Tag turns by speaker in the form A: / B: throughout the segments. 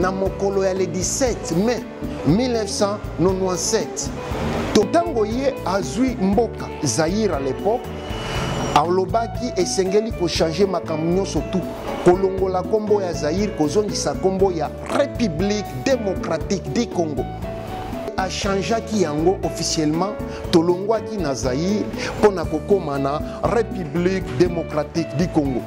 A: na mokolo ya le 17 mai 1997 to ntango ye azwi mboka zaire à l'époque alobaki esengeli kochange makambo nyonso tu kolongola nkombo ya zaire kozongisa nkombo ya république démocratique du congo achangeaki yango officiellement tolongwaki na zaire mpo na kokóma na république démocratique du congo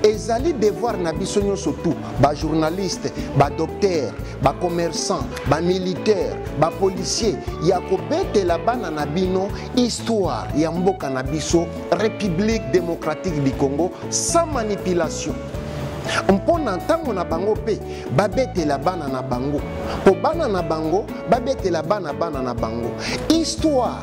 A: ezali devoir na biso nyonso tu bajournaliste badocteur bacommerçant bamilitaire bapolicier ya kobetela bana na bino histoire ya mboka na biso république démocratique du congo sans manipulation mpo na ntango na bango mpe babetela bana na bango mpo bana na bango babetela bana bana na bango histoire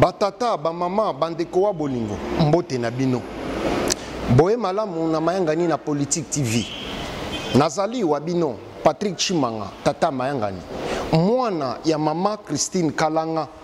A: batata bamama bandeko wa bolingo mbote na bino boye malamu na mayangani na politique tv nazali wa bino patrick chimanga tata mayangani mwana ya mama christine kalanga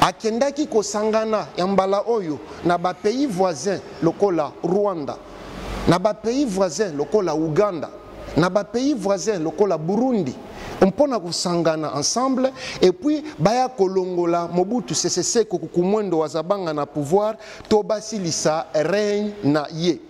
A: Akendaki kosangana ya mbala oyo na ba pays voisins lokola Rwanda, na ba pays voisins lokola Ouganda, na ba pays voisins lokola Burundi mpo na kosangana ensemble et puis baya kolongola Mobutu Sese Seko Kukumwendo Wazabanga na pouvoir to basilisa règne na ye.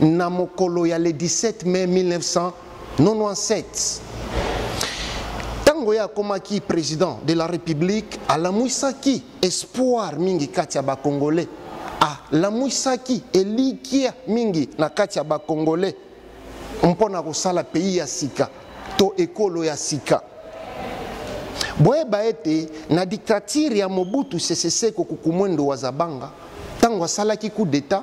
A: na mokolo ya le 17 mai 1997 ntango ye akomaki président de la république alamwisaki espoir mingi kati ya bacongolais alamwisaki elikya mingi na kati ya bacongolais mpo na kosala pays ya sika to ekolo ya sika boyeba ete na dictature ya mobutu sese seko kukumwendo wa zabanga ntango asalaki coup d'état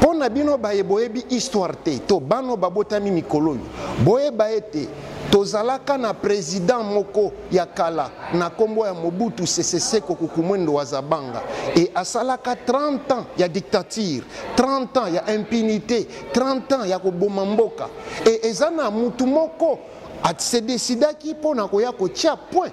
A: Pona bino baye boyebi histoire te to bano babotami mikolo oyo boyeba ete tozalaka na president moko ya kala na kombo ya Mobutu Sese Seko Kukumwendo wa Zabanga et asalaka 30 ans ya dictature 30 ans ya impunité 30 ans ya koboma mboka et eza na mutu moko se decidaki pona koya kotia point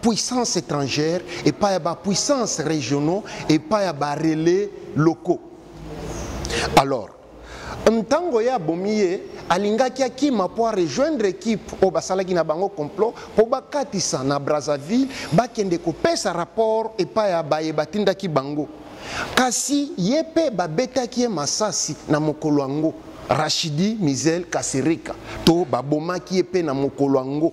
A: puissance étrangère epai ya bapuissance régionaux epai ya barelais locaux alors ntango ye abomi ye alingaki akima mpo arejoindre ekipe oyo basalaki na bango complot mpo bakatisa na brazzaville bakende kopesa rapport epai ya baye batindaki bango kasi ye mpe babetaki ye masasi na mokolo yango rachidi misel kasereka to babomaki ye mpe na mokolo yango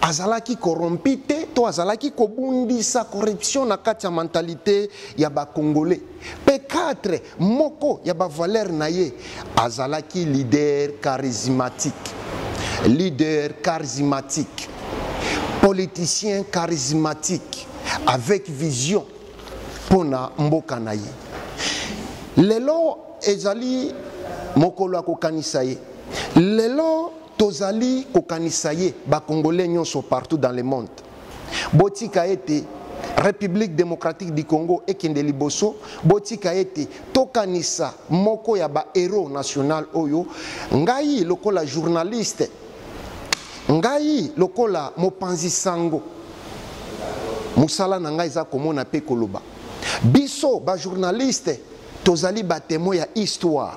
A: azalaki corrompu te to azalaki kobundisa corruption na kati ya mentalite ya bacongolais mpe 4 moko ya bavalere na ye azalaki leader charismatique leader charismatique politicien charismatique avec vision mpo na mboka na ye lelo ezali mokolo ya kokanisa ye lelo Tozali kokanisa ye ba congolais nyonso partout dans le monde. Botika ete Republique democratique du Congo ekende liboso, botika ete tokanisa moko ya ba heros national oyo ngai lokola journaliste ngai lokola mopanzi sango mosala na ngai eza komona mpe koloba biso bajournaliste tozali batemon ya histoire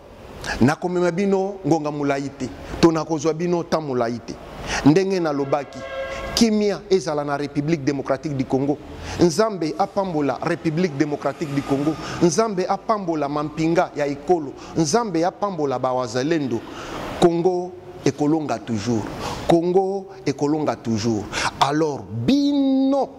A: nakomema bino ngonga molai te to nakozwa bino temps molai te ndenge nalobaki kimia ezala na république démocratique du congo nzambe apambola république démocratique du congo nzambe apambola mampinga ya ekolo nzambe apambola bawazalendo congo ekolonga toujours congo ekolonga toujours alors bino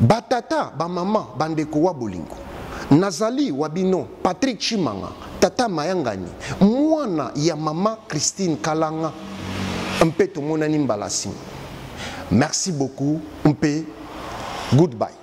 A: Batata, bamama, bandeko wa bolingo, nazali wa bino Patrick Chimanga, tata mayangani, mwana ya mama Christine Kalanga, mpe tomonani mbala nsima. Merci beaucoup mpe goodbye.